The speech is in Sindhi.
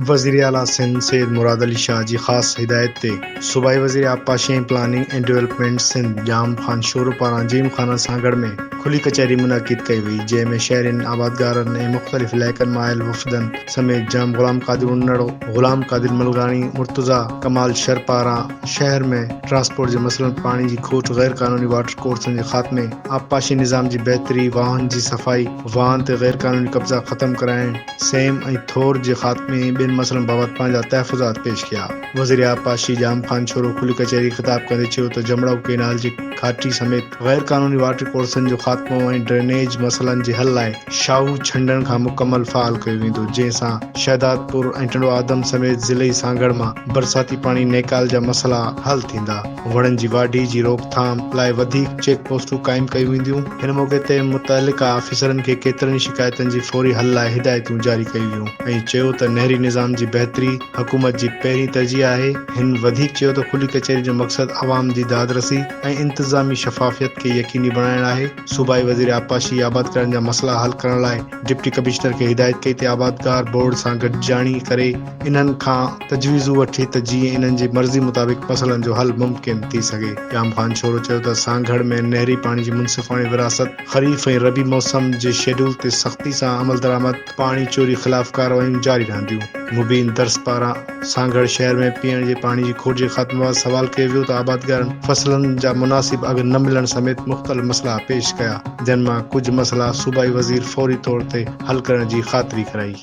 وزير اعليٰ سنڌ سيد مراد علي شاهه جي خاص هدايت تي صوبائي وزير آبپاشي ۽ planning and development Sindh Jam Khan Shoro پاران جيم خانه سانگهڙ ۾ کلي ڪچهري منعقد ڪئي وئي جنهن ۾ شهرين آبادگارن ۽ مختلف علائقن مان آيل وفدن سميت ڄام غلام قادر انڙ، غلام قادر ملغاڻي، مرتضيٰ ڪمال شر پاران شهر ۾ ٽرانسپورٽ جي مسئلن، پاڻي جي کوٽ، غير قانوني واٽر ڪورسن جي خاتمي، آبپاشي نظام جي بهتري، واهن جي صفائي، واهن تي غير قانوني قبضا ختم ڪرائڻ، سيم ۽ ٿور جي خاتمي ۽ ٻين مسئلن بابت پنهنجا تحفظات پيش ڪيا. وزير آبپاشي ڄام خان ڇورو کلي ڪچهري خطاب ڪندي چيو ته جمڙائو ڪينال جي گهاٽي سميت غير قانوني واٽر ڪورسن جو خاتمو ۽ ڊرينيج مسئلن جي حل لاء شاهو ڇنڊڻ کان مڪمل فعال ڪيو ويندو جنهن سان شهدادپور ۽ ٽنڊوآدم سميت ضلعي سانگهڙ مان برساتي پاڻي نيڪال جا مسئلا حل ٿيندا. وڻن جي واڍي جي روڪٿام لاء وڌيڪ چيڪ پوسٽون قائم ڪيون وينديون. هن موقعي تي متعلقه آفيسرن کي ڪيترن ئي شڪايتن جي فوري حل لاء هدايتون جاري ڪيون ويون ۽ چيو ته نهري نظام جي بهتري حڪومت جي پهرين ترجيح آهي. هن وڌيڪ چيو ته کلي ڪچهري جو مقصد عوام جي دادرسي ۽ انتظامي شفافيت کي يقيني بڻائڻ آهي. صوبائي وزير آبپاشي آبادڪارن جا مسئلا حل ڪرڻ لاء ڊپٽي ڪمشنر کي هدايت ڪئي ته آبادگار بورڊ سان گڏجاڻي ڪري، انهن کان تجويزون وٺي ته جيئن انهن جي مرضي مطابق مسئلن جو حل ممڪن ٿي سگهي. ڄام خان شورو چيو ته سانگهڙ ۾ نهري پاڻي جي منصفاڻي ورهاست، خريف ۽ ربيع موسم جي شيڊول تي سختي سان عملدرآمد، پاڻي چوري خلاف ڪارروايون جاري رهنديون. مبين درس پاران سانگهڙ شهر ۾ پيئڻ جي پاڻي جي کوٽ جي خاتمي بابت سوال ڪيو ويو ته آبادگارن فصلن جا مناسب اگهه نه ملڻ سميت مختلف مسئلا پيش ڪيا، جن مان ڪجهه مسئلا صوبائي وزير فوري طور تي حل ڪرڻ جي خاطري ڪرائي.